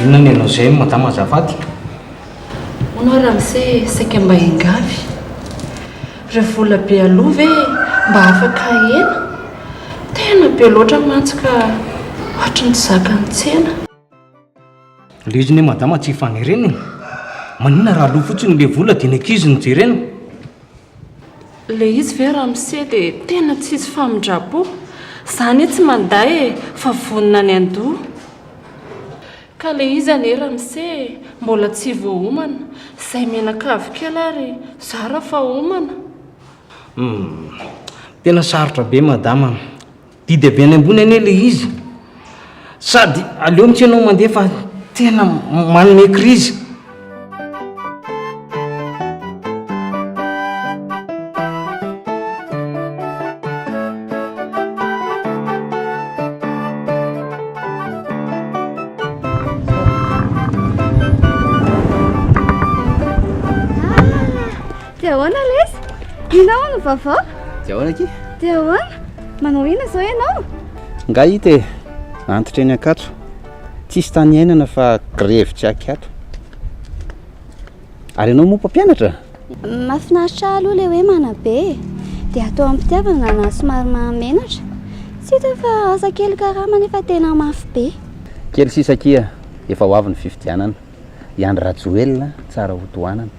Inona ny anao izay madama azafady? Moa ramose saika mba engavy. Ireo vola be aloha ve mba afaka ahena? Tena be loatra mantsy ka ohatry ny zakan'ny tsena. Le izy ne madama tsy fanerena e. Maninona raha aloa fotsiny le vola dia ny ankizy no jerena? Le izy ve ramose dia tena tsisy famindrapo? Za anie tsy manda e fa vonona any andoha. Ka le izy anie ramose mbola tsy voahomana. Zay mianakavy kely ary zara fa homana. Hum, tena sarotra be madama. Didy avy any ambony anie le izy sady aleo mitsy ianao mandeha fa tena manome crise. Dia ahoana lesy? Inona hono ny vaovao? Dia ahoana aky? Dia ahoana? Manao inona izao ianao? Nga hita e, antitra eny Ankatso. Tsisy tany iainana fa grevy tsy akiato. Ary ianao moa mpampianatra? Mahafinaritra ahy aloha ilay hoe manabe e. Dia atao am-pitiavana na somary mahamenatra. Tsy hita fa asa kely karama nefa tena mafy be. Kely sisa akia, efa ho avy ny fifidianana. I Andry Rajoelina tsara hotohanana.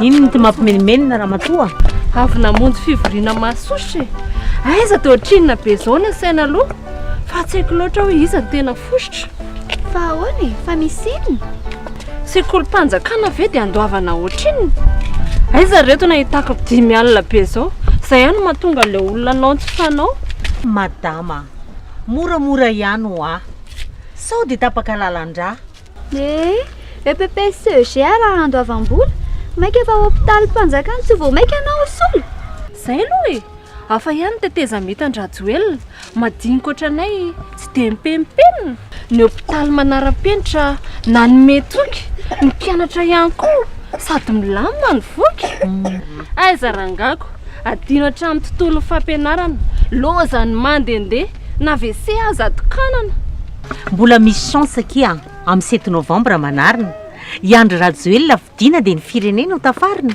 Inona no mampimenomenona ramatoa? Avy namonjy fivoriana mahasosotra e. Aiza dia ohatrinona be izao ny saina aloha fa tsy haiko loatra hoe iza no tena fosotra. Fa ahoana e? Fa misy inona? Sekolim-panjakana ve dia andoavana ohatrinona? Aiza ireto nahitako dimy alina be izao? Izay ihany no mahatonga an'ilay olona anao tsy fanao. Madama, Moramora ihany hoa. Sao dia tapaka lalan-drà. Eh! EPP sy CEGA raha handoavam-bola? Maika fa hopitalim-panjakana tsy vao maika anao ho sola? Zay aloha e! Hafa ihany ny tetezamita an-dRajoelina, madinika ohatranay tsy dia mipemipemina. Ny hopitaly manara-penitra nanome toky ny mpianatra ihany koa sady milamina ny voky. Aiza rangako, adino hatramin'ny tontolon'ny fampianarana, lozan'ny mandehandeha na WC aza atokanana. Mbola misy chance akia an, amin'ny sept novembre manarina, i Andry Rajoelina fidiana dia ny firenena ho tafarina.